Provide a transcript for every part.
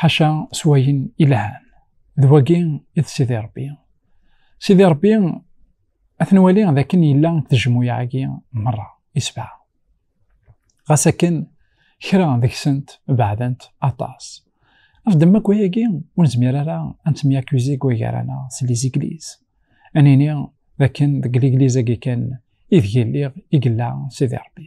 ḥaca s wayen ilhan d wagi i d sidi rebbi sidi rebbi ad nwali d akken yella tejmuyaɛgi merra isebɛa ɣas akken kra deg-sent beɛdent aṭas af ddemma akk ayagi ur nezmir ara ad ntemyakuzi deg wagar-aneɣ s lizigliz ad nini d akken deg ligliz-agi kan ideg illiɣ i yella sidi rebbi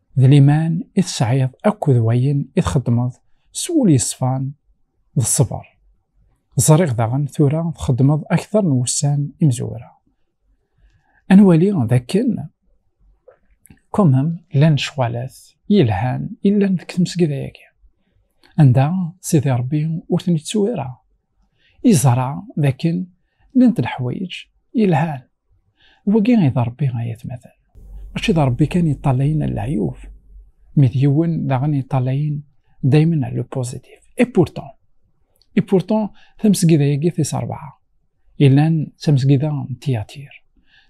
d liman i tesɛiḍ akked wayen i txeddmeḍ s wul yeṣfan d ṣṣber. Ẓriɣ daɣen tura txeddmeḍ akteṛ n wussan imezwura. Ad nwali d akken kumem llan lecɣalat yelhan i llan deg tmesgida-agi, anda Sidi Ṛebbi ur ten-ittu ara, yeẓra d akken llant leḥwayeǧ yelhan. wagi i d Rebbi ay atmaten mačči d Rebbi kan yeṭṭalayen al leɛyub mi d yiwen daɣen yeṭṭalayen daymen al le positif et pourtant et pourtant tamesgida-agi tis rebɛa yellan d tamesgida n tiyatir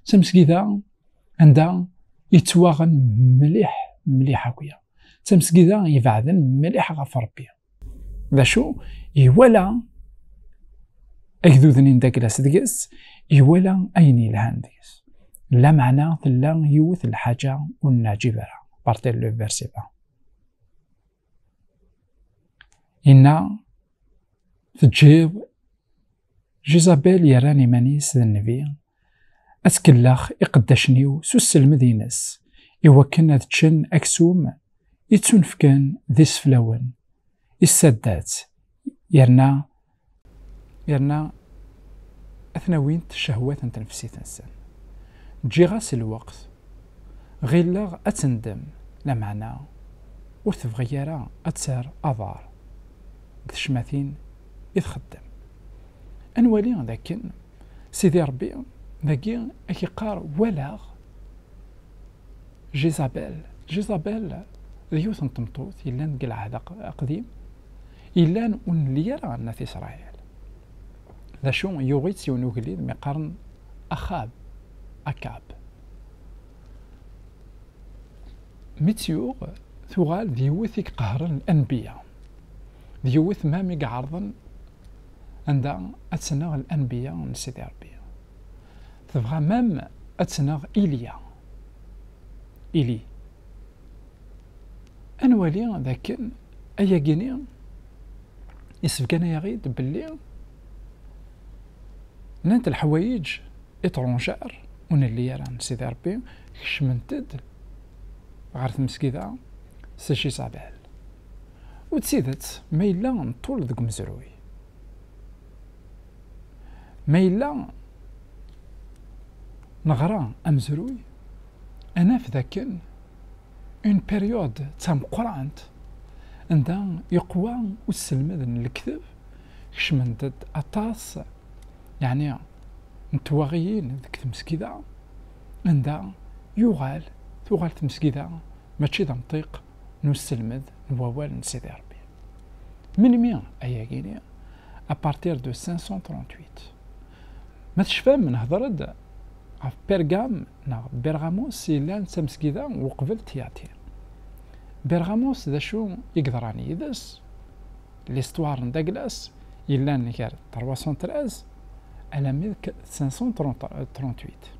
d tamesgida anda yettwaɣen mliḥ mliḥ akya d tamesgida ibeɛden mliḥ ɣef Rebbi d acu iwala agduden n daklas deg-s iwala ayen yelhan deg-s lameɛna tella yiwet lḥaǧa ur neɛǧib ara partir le verset 1 inna teǧǧiḍ jizabel yerran iman-is d nnbi Ad tkellex iqeddacen-iw s usselmed-ines, iwakken ad ččen aksum i ttunefken d iseflawen, issaddat, yerna yerna ad ten-awint cehwat n tnefsit-nsen. Ǧǧiɣ-as lweqt, ɣilleɣ ad tendem, lameɛna ur tebɣi ara ad terr aḍar deg tecmatin i txeddem. Ad nwali dakken Sidi Ṛebbi dagi a k-iqqar walaɣ Jizabel. Jizabel d yiwet n tmeṭṭut yellan deg Lɛehd Aqdim, yellan ur nelli ara n At Isṛayil. D acu, yuɣ-itt yiwen ugellid mi qqaren Axab, Akab. Mi tt-yuɣ, tuɣal d yiwet i iqehren anbiya, d yiwet mam i iɛerḍen anda ad tneɣ l-anbiya n Sidi Rebbi. Tebɣa mam ad tneɣ Ilya. Ili. Ad nwali d akken ayagi-ni isebgan-ayaɣ-id belli llant lḥwayeǧ iṭrunjar ur nelli ara n Sidi Rebbi kecment-d ɣer tmesgida Sejjisabel. U d tidet, ma yella ṭṭul deg umezruy, ma yella neɣra amezruy, ad naf dakken une période d tameqqrant anda yeqwa usselmed n lekteb, kecment-d aṭas yeɛni n twaɣiyin deg tmesgida, anda yuɣal, tuɣal tmesgida mačči d amṭiq n usselmed n wawal n Sidi Rebbi. Melmi ay agini? A partir de 538. Ma tecfam nehder-d ɣef Pergam neɣ Bergamos yellan d tamesgida uqbel Tyatir. Bergamos d acu i yeḍran yid-s? L'histoire n Daglas yellan gar 313 alammi d 538.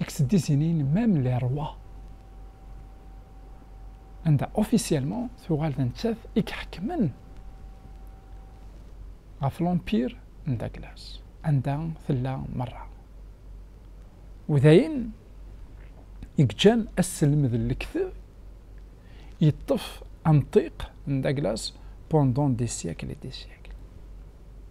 Iksdisinin, même les rois, anda officiellement tuɣal d nettat i iḥekmen ɣef l'empire n Douglas, anda tella merra. U dayen i yeǧǧan asselmed n lekteb yeṭṭef amṭiq n Douglas pendant des siècles et des siècles.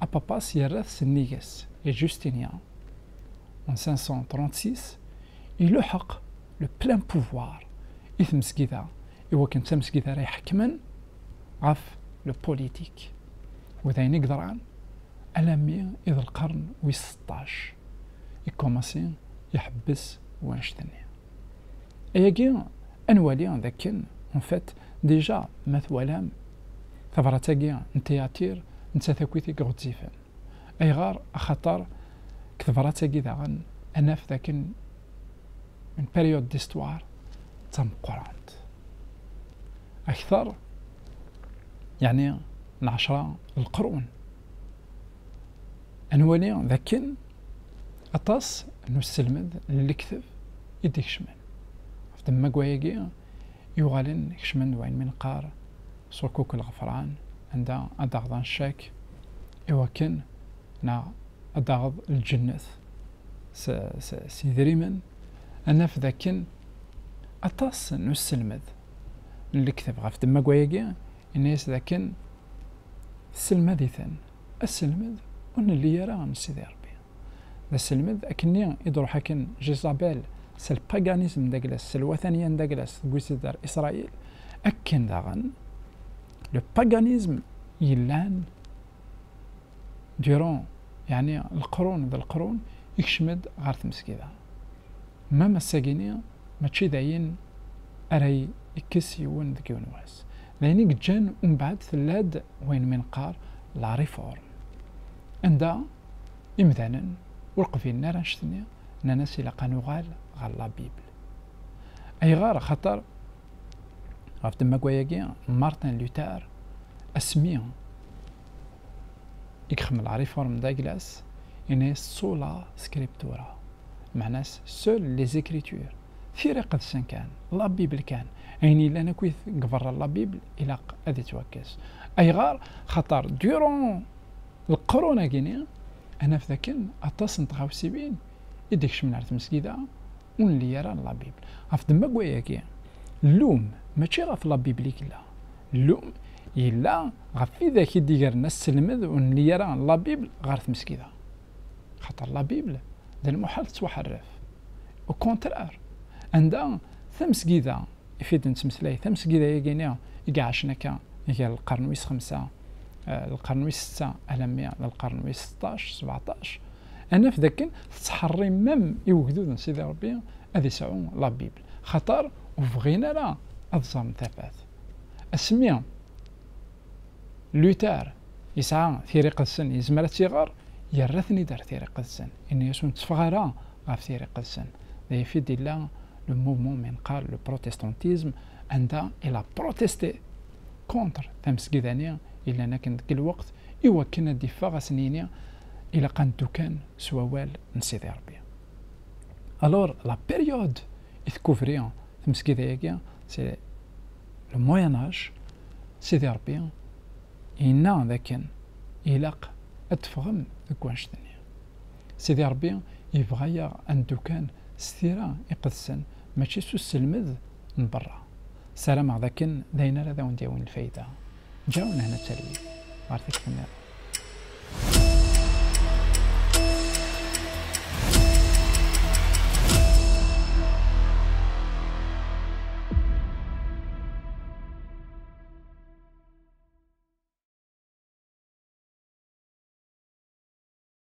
Apapas yerra-t sennig-s. Et Justinia, en 536, iluḥeq le plein pouvoir i tmesgida iwakken d tamesgida ara iḥekmen ɣef le politique. U d ayen i yeḍran alammi i d lqern wis seṭṭac i commencer iḥebbes wanect-nni. Ayagi ad nwali d akken en fait déjà ma twalam Tabrat-agi n Tiyatir n Tatakit i iɣezzifen. Ayɣer? Axaṭer deg tebrat-agi daɣen ad naf dakken une période d'histoire d tameqqrant akter, yeɛni n ɛecra n leqrun. Ad nwali dakken aṭas n usselmed n lekdeb i d-ikecmen ɣef ddemma n wayagi Yuɣalen kecmen-d wayen mi neqqar ṣukuk lɣefran, anda ad d-aɣḍan ccak i wakken neɣ ad d-taɣeḍ lǧennet s yedrimen, ad naf d akken aṭas n usselmed n lekteb ɣef demmagwa-agi yenna-yas d akken tesselmad-iten asselmed ur nelli ara am Sidi Rebbi. D aselmed akkenni i d-truḥ akken Jizabel s lpaganism d aglas, s lwataniya n d aglas deg wis zedder Israil, akken daɣen le paganism yellan durant yeɛni leqrun d leqrun ikcem-d ɣer tmesgida. Mem ass-agini mačči d ayen ara yekkes yiwen deg yiwen wass. D ayen i yeǧǧan umbeɛd tella-d wayen mi neqqar la réforme. Anda. imdanen ur qbilen ara annect-nni, nnan-as ilaq ad nuɣal ɣer la Bible. Ayɣer? Axaṭer ɣef ddemma-agi, Martin Luther, asmi i yexdem la réforme d'Aglas, yenna-yas sola scriptura, meɛna-s seules les écritures, tira iqedsen kan, la Bible kan, ayen yellan akk deg berra la Bible ilaq ad yettwakkes. Ayɣer? Axaṭer durant Leqrun-agi-nni, ad naf dakken aṭas n tɣawsiwin i d-ikecmen ar tmesgida ur nelli ara n labibl. Ɣef ddemma n wayagi, llum mačči ɣef labibl i yella, llum yella ɣef widak i d-igren asselmed ur nelli ara n labibl ɣer tmesgida. Axaṭer labibl d lmuḥal tettwaḥerref. Ukontrar, anda tamesgida, i fid n tmetlayt amesgida-agi-ni i iɛacen akka gar lqern wis xemsa, eh, lqern wis setta alammi d lqern wis seṭṭac, sebeɛṭac, ad naf d akken tettḥerrimem i ugdud n Sidi Rebbi ad isɛu la Bible, xaṭer ur bɣin ara ad ẓren tafat. Asmi Luther yesɛa tira iqedsen, yezmer ad tt-iɣer, yerra-ten-id ar tira iqedsen, yenna-yasen ur tteffeɣ ara ɣef tira iqedsen. d ayef i d-illa le mouvement mi neqqar le protestantisme anda il a protesté contre tamesgida-ni yellan akken deg lweqt iwakken ad d-iffeɣ ad sen-yini ilaq ad neddu kan s wawal n Sidi Rebbi. Alors la période i tcouvri tmesgida-agi c'est le moyen âge Sidi Rebbi yenna d akken ilaq ad teffɣem deg wannect-nni. Sidi Ṛebbi yebɣa-yaɣ ad neddu kan s tira iqedsen, mačči s usselmed n berra. Sarameɣ d akken d ayen ara d awen-d-yawin lfayda. Ǧǧaw lehna d talwit ɣer tikti nniḍen.